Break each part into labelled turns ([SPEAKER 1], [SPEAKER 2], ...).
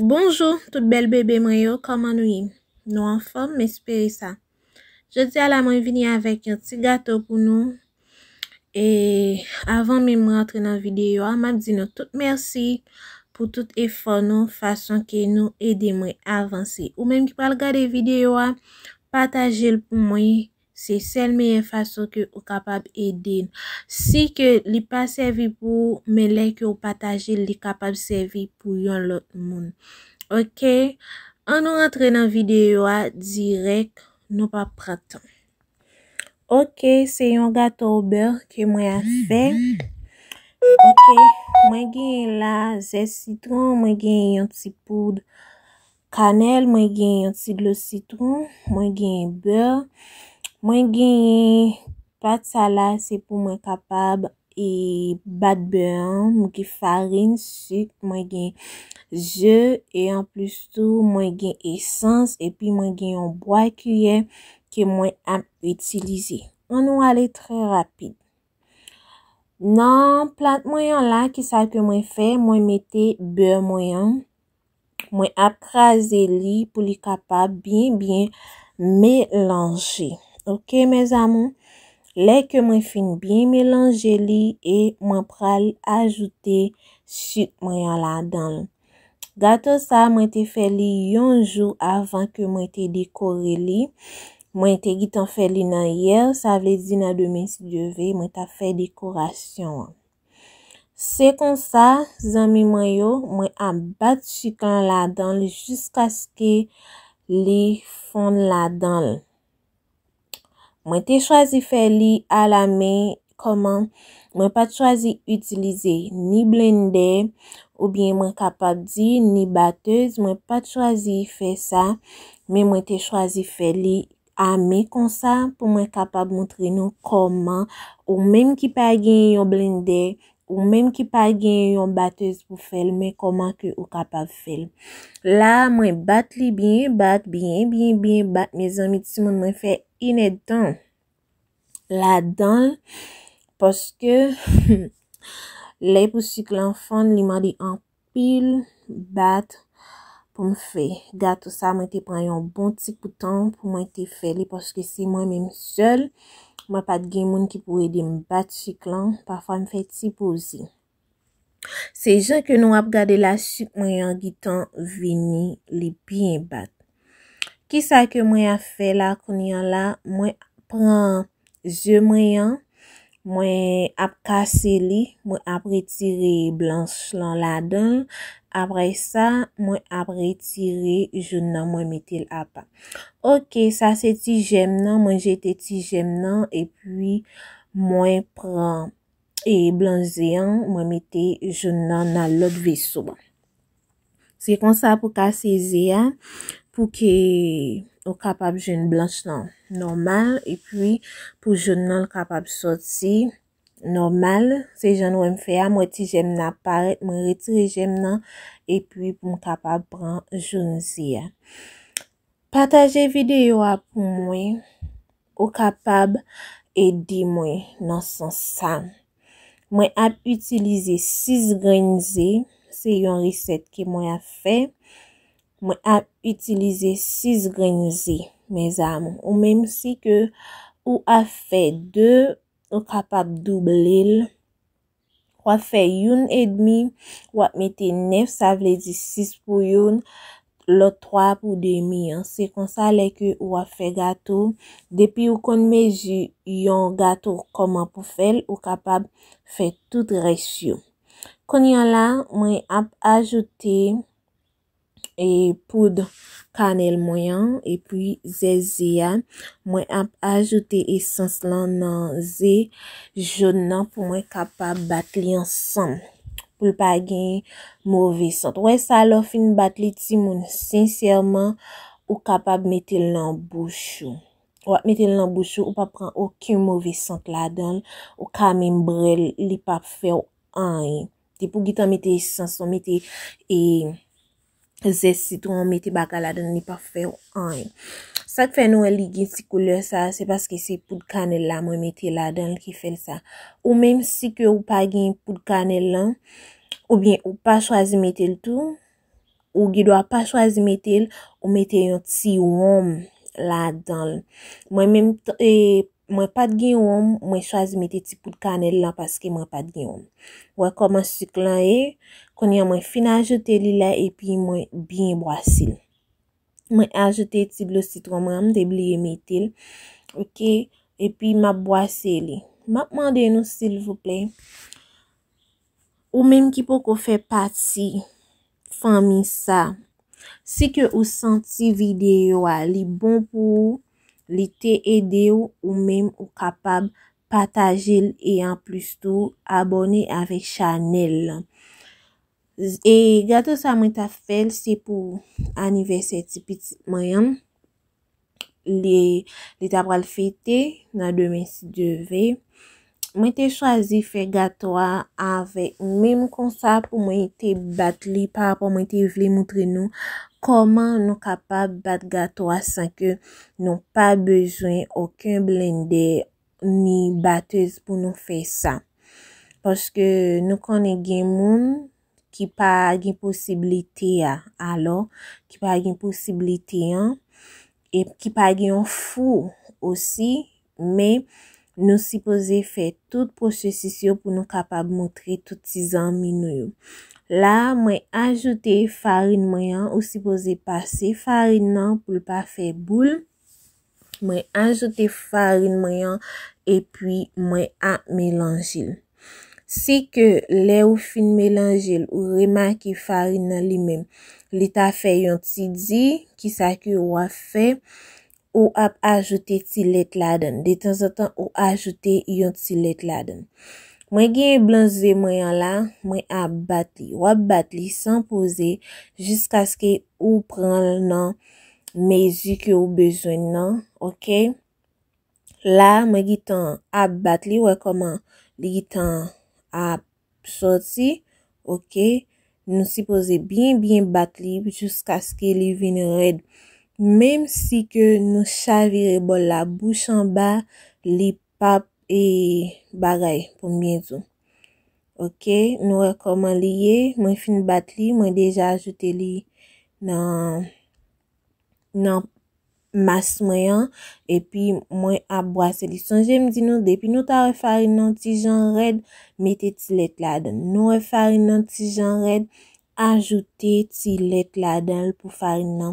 [SPEAKER 1] Bonjou tout bèl bebe mwen yo kòman nou ye nou anfòm m espere sa jodi a la mwen vini avèk yon ti gato pou nou e avan menm m rantre nan videyo a map di nou tout mèsi pou tout efò nou fason ke nou ede mwen avanse ou menm ki pral gade videyo a patajel pou mwen Se sèl meyè fason ke ou kapab ede l. Si ke li pa sèvi pou ou, men lè ke ou pataje l li kapab sèvi pou yon lòt moun. Ok, an nou rantre nan videyo a dirèk nou pa pran tan. Ok, se yon gato au beurre ke mwen ap fè. Ok, mwen genyen la zè sitron, mwen genyen yon ti poud. Kanèl, mwen gen yon ti dlo sitwon, mwen gen beur, mwen gen pat sa la se pou mwen kapab e bat beur an, mwen gen farin, suk, mwen gen ze e an plus tou mwen gen esans epi mwen gen yon bwa kiyè ke mwen ap itilize. An nou ale trè rapid. Nan plat mwen an la ki sa ke mwen fè, mwen mete beur mwen an. Mwen ap kraze li pou li kapab byen byen melanje. Ok mes amour. Lè ke mwen fin byen melanje li e mwen pral ajoute suk mwen an ladanl. Gato sa mwen te fè li yon jou avan ke mwen te dekore li. Mwen te gitan fè li nan yè, sa vle di nan demen si Dieu veut mwen tap fè dekorasyon an. Se konsa, zanmi mwen yo, mwen ap bat chik lan ladan l jiskaske li fonn ladan l. Mwen te chwazi fè li ala men kòman mwen pat chwazi itilize ni blennde oubyen mwen kapab di ni batez mwen pat chwazi fè sa men mwen te chwazi fè li ame konsa pou mwen kapab moutre nou kòman ou menm ki pa gen yon blendè, ou menm ki pa gen yon batez pou fèl men kòman ke ou kapab fèl. La mwen bat li byen bat, byen byen byen bat mezanmi timoun mwen fè inèd tan la danl paske lè pou sik lan fonn li mande anpil. anpil bat pou m fè gato sa mwen te pran yon bon ti pou tan pou mwen te fè li paske se mwen menm sèl mwen pat gen moun ki pou ede m bat sik lan pafwa m fè ti poze se jan ke nou ap gade la sik mwen yon gitan vini li byen bat Kisa ke mwen ap fè la kounya la, mwen pran ze mwen an, mwen ap kase li, mwen ap retire blanch lan ladan, apre sa mwen ap retire joun nan mwen mete l apa. Ok, sa se ti jèm nan, mwen jete ti jèm nan, epi mwen pran e blanch ze an, mwen mete joun nan nan lòt veso. Se konsa pou ka sezi a pou ke ou kapab jwenn blanch lan nòmal epi pou joun nan kapab sòti nòmal. Se jan nou wè m fè a, m wè ti jèm nan ap parèt, mwen retire jèm nan epi pou m kapab pran joun zi a. Pataje video a pou mwen ou kapab ede mwen nan sans sa. Mwen ap itilize 6 grenn ze se yon reset ke mwen ap fe. Mwen ap itilize 6 grenn ze mes amour. Ou menm si ke ou ap fe 2 ou kapab double l. wap fè youn edmi wap mete 9 sa vle di 6 pou youn lòt 3 pou demi an se konsa lè ke ou ap fè gato depi ou konn mezi yon gato kòman pou fèl ou kapab fè tout rès yo kounye an la mwen ap ajoute e poud kanèl mwen an epi ze ze a mwen ap ajoute esans lan nan ze jòn nan pou mwen kapab bat li ansanm poul pa gen move sant wè sa lè w fin bat li timoun sensèman ou kapab mete l nan bouch ou wap mete l nan bouch ou ou pap pran oken move sant ladan ou ka menm bre l li pap fè w anyen Di pou gitan mete esans ou mete e zè sitron ou mete bagay ladan li pa fè ou anyen. Sak fè nou wè li gen ti koulè sa se paske se poud kanèl la mwen mete ladan li ki fèl sa. Ou menm si ke ou pa gen poud kanèl lan ou byen ou pa chwazi mete l tou ou gen dwa pa chwazi mete l ou mete yon ti wonm ladan l. Mwen menm e. Mwen pat gen wonm, mwen chwazi mete ti poud kanèl lan paske mwen pat gen wonm. Wè kòman suk lan ye, kounye an mwen fin ajoute li la epi mwen byen bwase l. Mwen ajoute ti dlo sitwon mwen an, m te bliye mete l. Ok, epi map bwase li. Map mande nou silvouplè, Ou menm ki poko fè pati fanmi sa, si ke ou santi videyo a li bon pou ou, li te ede ou, ou menm ou kapab pataje l e anplis tou abòne avèk chanèl lan. E gato sa mwen ta fè l se pou anivèsè ti pitit mwen an. li ta pral fete nan demen si Dye ve. Mwen te chwazi fè gato a avèk menm konsa pou mwen te bat li pa rapò mwen te vle moutre nou kòman nou kapab bat gato a san ke nou pa bezwen oken blende ni batez pou nou fè sa. Paske nou konnen gen moun. ki pa gen posiblite a, alò, ki pa gen posiblite an, e ki pa gen yon fou osi, men nou sipoze fè tout pwosesis yo pou nou kapab moutre tout ti zanmi nou yo. La, mwen ajoute farin mwen an, ou sipoze pase farin nan pou l pa fè boul. Mwen ajoute farin mwen an epi mwen ap melanje. Si ke lè ou fin melanje l ou remake farin nan li menm li ta fè yon ti di, ki sa ke ou ap fè? Ou ap ajoute ti lèt ladan. De tanzantan ou ajoute yon ti lèt ladan. Mwen genyen blan ze mwen an la, mwen ap bat li. Ou ap bat li san poze jiskaske ou pran l nan mezi ke ou bezwen nan ok la mwen gitan ap bat li wè koman li gitan ap soti ok nou sipoze byen byen bat li jiskaske li vin red menm si ke nou chavire bol la bouch anba li pap e bagay pou m byen di w. Ok, nou wè kòman li ye, mwen fin bat li, mwen deja ajoute li nan nan mas mwen an, epi mwen ap bwase li. Sonje m di nou depi nou ta wè farin nan ti jan rèd, mete ti lèt ladan. Nou wè farin nan ti jan rèd, Ajoute ti lèt ladan l pou farin nan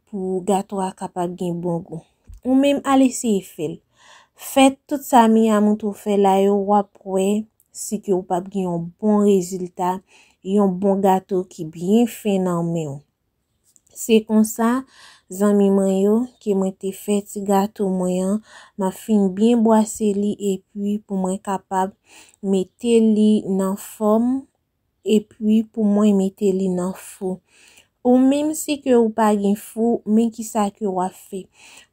[SPEAKER 1] pou gato a kapab gen bon gou. Ou menm al eseye fè l. Fè tout sa mi a montre w fè la yo wap wè si ke ou pap gen yon bon rezilta, yon bon gato ki byen fen nan men w. Se konsa zanmi mwen yo ke mwen te fè ti gato mwen an, map fin byen bwase li epi pou mwen kapab mete li nan fòm epi pou mwen mete li nan fou. Ou menm si ke ou pa gen fou, men ki sa ke wap fè.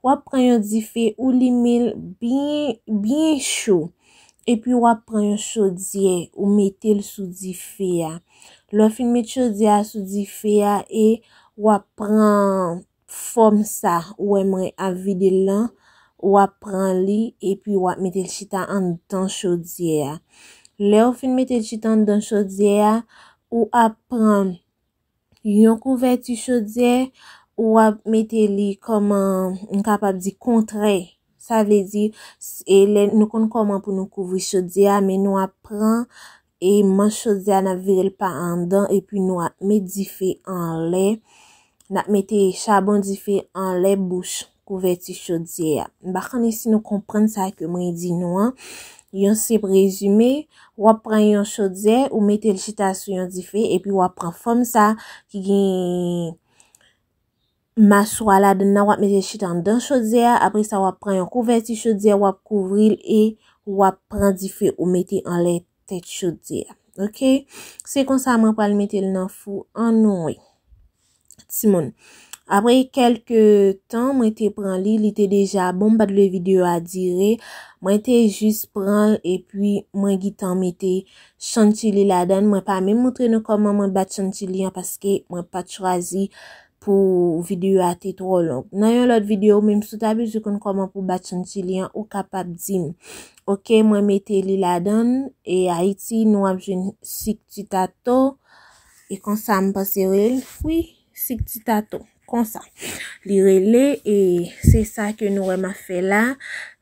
[SPEAKER 1] Wap pran yon dife ou limenl byen, byen cho. Epi wap pran yon chodyè ou metel sou dife a. Lè ou fin met chodyè a sou dife a e wap pran fòm sa ou wè mwen ap vide l lan, w ap pran li epi w ap mete l chita anndan chodyè a. Lè ou fin mete l chita anndan chodyè a, ou ap pran yon kouvèti chodyè, ou ap mete li kòman m kapab di kontrèy. Sa vle di, e lè nou konn kòman pou nou kouvri chodyè a, men nou ap pran e manch chodyè a nap vire l pa anndan epi nou ap met dife anlè, nap mete chabon dife anlè bouch kouvèti chodyè a. M pa konnen si nou konprann sa ke mwen di nou an, yon senp rezime, wap pran yon chodyè, ou mete l chita sou yon dife epi wap pran fòm sa ki gen. Maswa ladann nan wap mete chita andan chodyè a apre sa wap pran yon kouvèti chodyè wap kouvril e wap pran dife ou mete anlè tèt chodyè a ok se konsa mwen pral metel nan fou an nou wi timoun apre kelke tan mwen te pran li li te deja bon mpat vle video a dire mwen te jis pranl epi mwen gitan mete chantilly ladann mwen pa menm moutre nou koman mwen bat chantilly an paske mwen pat chwazi pou video a te tro long nan yon lot video menm sou ta bezwen konn koman pou bat son ti li an ou kapab dim ok mwen mete li ladan e ayiti nou ap jwen sik ti tato e konsa m pase rel wi sik ti tato konsa li rele e se sa ke nou wè ma fè la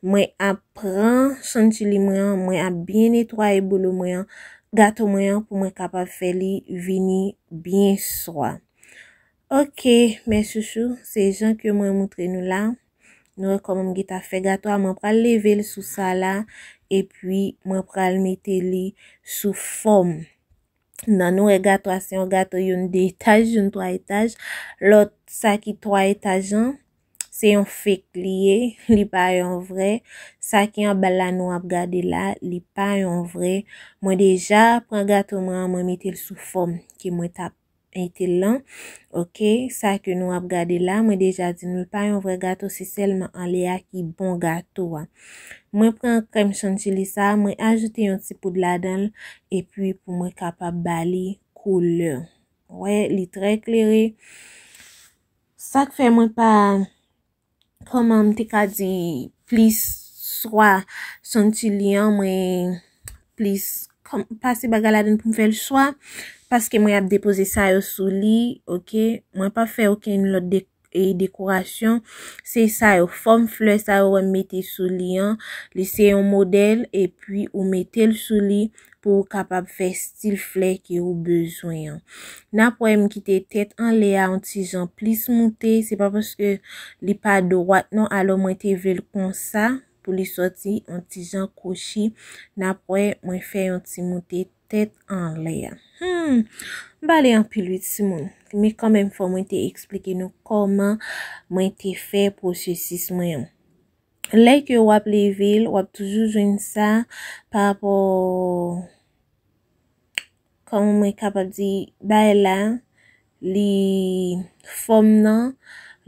[SPEAKER 1] mwen ap pran son ti li mwen an mwen ap byen netwaye bolo mwen an gato mwen an pou mwen kapab fè li vini byen swa. Ok mes chouchous se jan ke mwen moutre nou la Nou wè kòman m geta fè gato a mwen pral leve l sou sa la epi mwen pral mete li sou fòm nan nou wè gato a se yon gato youn 2 etaj youn 3 etaj lòt sa ki 3 etaj an se yon fek li ye li pa yon vre sa ki an bal la nou ap gade la li pa yon vre mwen deja pran gato mwen an mwen mete l sou fòm ke mwen tap Ete lan ok sa ke nou ap gade la mwen deja di nou l pa yon vrè gato se sèlman anlè a ki bon gato a mwen pran krèm chantilly sa mwen ajoute yon ti poud ladan l epi pou mwen kapab ba li koulè wè li trè klere sak fè mwen pa Kòman m te ka di plis swa son ti li an mwen plis pase bagay ladan pou m fè l swa paske mwen ap depoze sa yo sou li ok mwen pa fè okenn lòt de dekorasyon se sa yo fòm flè sa yo wè m mete sou li an li se yon modèl epi ou mete l sou li pou ou kapab fè stil flè ke ou bezwen an. N ap wè m kite tèt anlè a yon ti jan plis moute, se pa paske li pa dwat non, alò mwen te vle l konsa pou li sòti yon ti jan kwochi. N ap wè mwen fè yon ti moute tèt anlè a. Hum! M pale anpil wi ti moun, men kanmenm fò mwen te eksplike nou kòman mwen te fè pwosesis mwen an. Lè ke wap leve l, wap toujou jwenn sa pa rapò kòman mwen kapab di bay la li fòm nan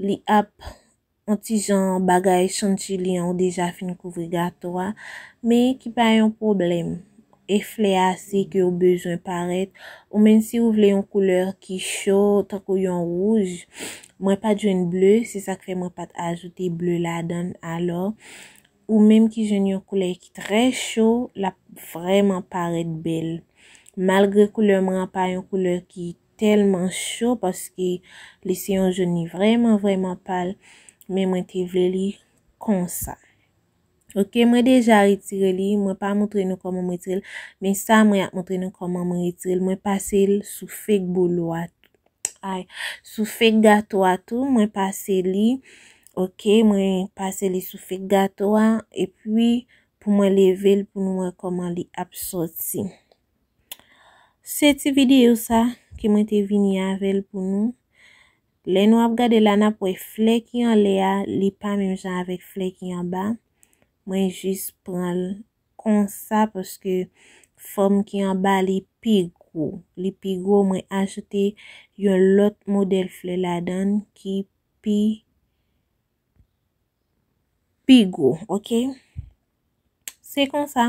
[SPEAKER 1] li ap yon ti jan bagay chantilly an ou deja fin kouvri gato a men ki pa yon pwoblèm. eflè ase ke ou bezwen parèt, ou menn si ou vle yon koulè ki cho, tankou yon wouj, mwen pat jwenn ble, se sak fè mwen pat ajoute ble ladann, alò, ou menm ki jwenn yon koulè ki trè cho, lap vrèman parèt bèl. Malgre koulè mwen an pa yon koulè ki tèlman cho, paske li se yon jon li vrèman vrèman pal, men mwen te vle li konsa. Ok mwen deja retire li mwen pa moutre nou koman mwen retirel men sa mwen ap moutre nou koman mwen retirel mwen pasel sou fek bolo a ay sou fek gato a tou mwen pase li ok mwen pase li sou fek gato a epi pou mwen level pou nou wè koman li ap soti se ti video sa ke mwen te vini avel pou nou Lè nou ap gade la nap wè flè ki anlè a li pa menm jan avèk flè ki anba, mwen jis pranl konsa paske fòm ki anba li pi gwo, li pi gwo mwen ajoute yon lòt modèl flè ladann ki pi pi gwo ok se konsa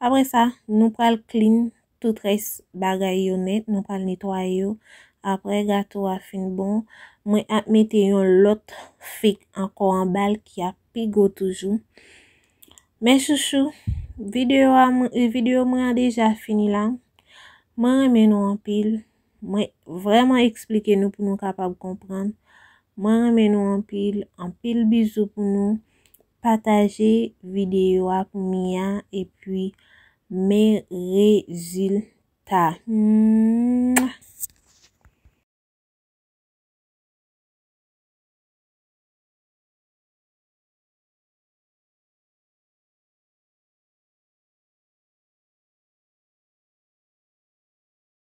[SPEAKER 1] apre sa nou pral clean tout res bagay yo net nou pral netwaye yo apre gato a fin bon mwen ap mete yon lot fig anko anbal ki ap pi gwo toujou mes chouchou video mwen an deja fini la mwen renmen nou anpil. Mwen vreman explike nou pou nou kapab konprann. Mwen renmen nou anpil. Anpil bizou pou nou. Pataje video a pou Mia epi men rezilta. Mwah.